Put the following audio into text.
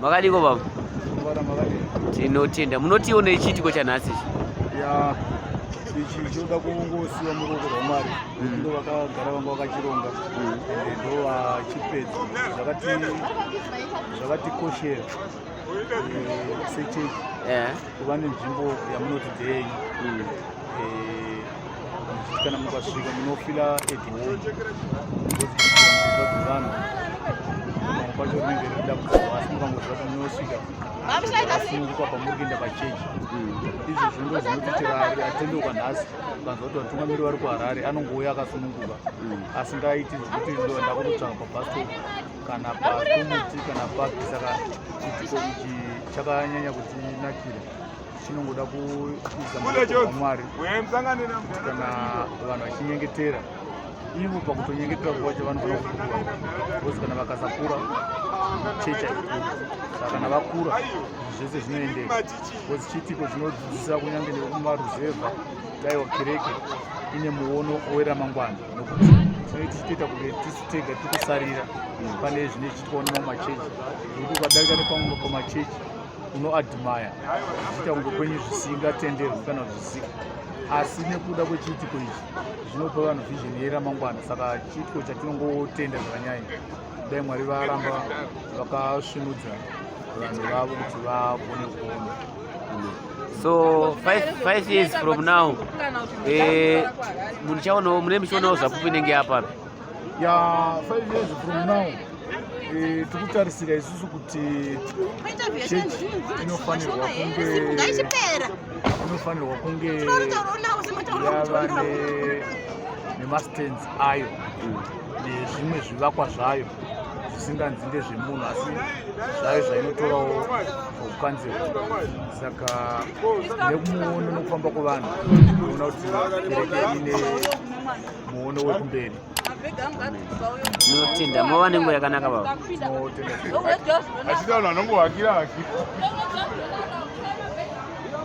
makadiko baba tinotenda munotiwo nechiitiko chanhasi ichi ichi chinoda kungosiwa muruoko rwamwari mm. ndo vakagara vanga vakachironga mm. and ndo vachipedza zvakatikoshera eh, sechechi kuva nenzvimbo yamunoti ndeyenyu mm. eh, kana mukasvika munofila edhioavanhu pamwe pacho rinenge rida kuaa asi mukangoziva kuti munosvika asunungukwa pamuri kuenda pachechi mm. izvi zvindo zvinoti chirari atendeuka nhasi kanzwa kuti vatungamiri vari kuharare anongouya akasununguka mm. asingaiti zvekuti ndoenda kunotsvaka pabhasto kana pakumuti kana papi saka chiitiko ichi chakanyanya kutinakira chinongoda kuisa mwari kana vanhu vachinyengetera ivo pakutonyengetera kwacho vanofanira kukura bcause kana vakasakura chechi haikuri saka kana vakura zvese zvinoendeka bcause chiitiko chinodzidzisa kunyange nekumaruzevha daiwa kereke ine muono weramangwana nokuti tinoiti chitoita kunge tega tiri kusarira pane zvine zvichitikawo nemamachechi zvekuti ukadarika nepamwe pamachechi unoadmire zviita kunge kwenyu zvisingatenderwi kana zvisika asi nekuda kwechiitiko ichi zvinopa vanhu vhizheni yeramangwana saka chiitiko chatinongotenda zvanyaya dai mwari varamba vakasvinudza vanhu vavo kuti vagone kuona so five, five years from now eh, mune michionawo zvapupu inenge yapapi ya 5 years from now eh, tikutarisira isusu kuti chechi inofanirwa kunge inofanirwa kunge yava nemastands ayo nezvimwe zvivakwa zvayo zvisinganzi ndezvemunhu asi zvayo zvainotorawo kukanzira saka nekumuono nokufamba kwevanhu ona kuti kereke ine muono wekumberi tinotenda mova nenguva yakanaka baba achida vanhu vanongovakira vaki